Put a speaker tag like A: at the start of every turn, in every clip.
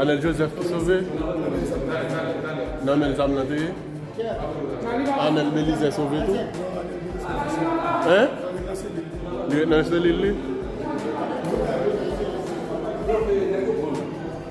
A: Anel Joseph ki sove? Nan menl zam nan te ye? Anel Belize sove tou? Hein? Li ret nan selil li?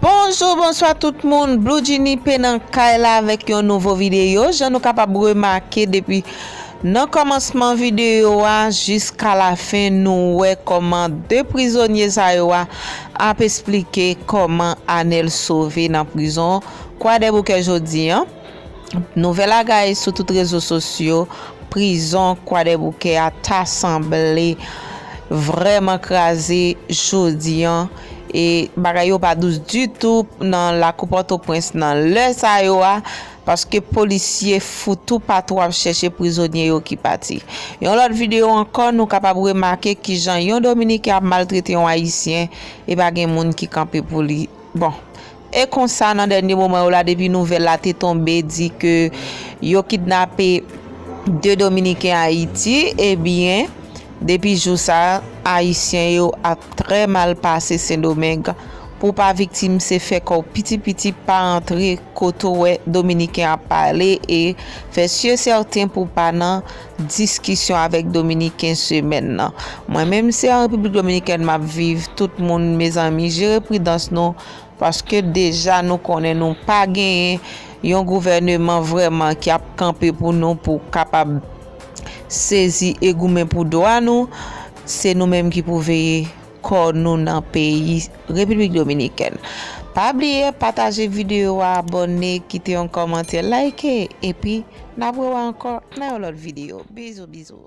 B: Bonjou
C: bonswa tout moun Bloudjinipe nan kay la avèk yon nouvo videyo jan nou kapab remake depi nan kòmansman videyo a jiska lafen nou wè kòman 2 prizonye sa yo a ap esplike kòman Anel sove nan prizon kwadèboukè jodi an. Nouvèl la gaye sou tout rezo sosyo, prizon Kwadèboukè a ta sanble vrèman kraze jodi an e bagay yo pa dous ditou nan lakou Pòtoprens nan lè sa yo a paske polisye fou tou patou ap chèche prizonye yo ki pati. Yon lòt videyo ankò nou kapab remake kijan yon dominiken ap maltrete yon ayisyen e pa gen moun ki kanpe pou li bon E konsa nan dènye moman yo la depi nouvèl la te tonbe di ke yo kidnape 2 dominiken Ayiti ebyen depi jou sa ayisyen yo ap trè mal pase sendomeng pou pa viktim se fè kò w piti piti pa antre kote w wè dominiken ap pale e fè si e sèten pou pa nan diskisyon avèk dominiken semèn nan mwen menm se an repiblik dominikèn map viv tout moun mezanmi jere pridans nou. Paske deja nou konnen nou pa genyen yon gouvèneman vrèman ki ap kanpe pou nou pou kapab sezi e goumen pou dwa nou, se nou menm ki pou veye kò nou nan peyi Repiblik Dominikèn. Pa bliye pataje video a abòne kite yon kòmantè like epi nap wè w ankò nan yon lòt video bizou bizou.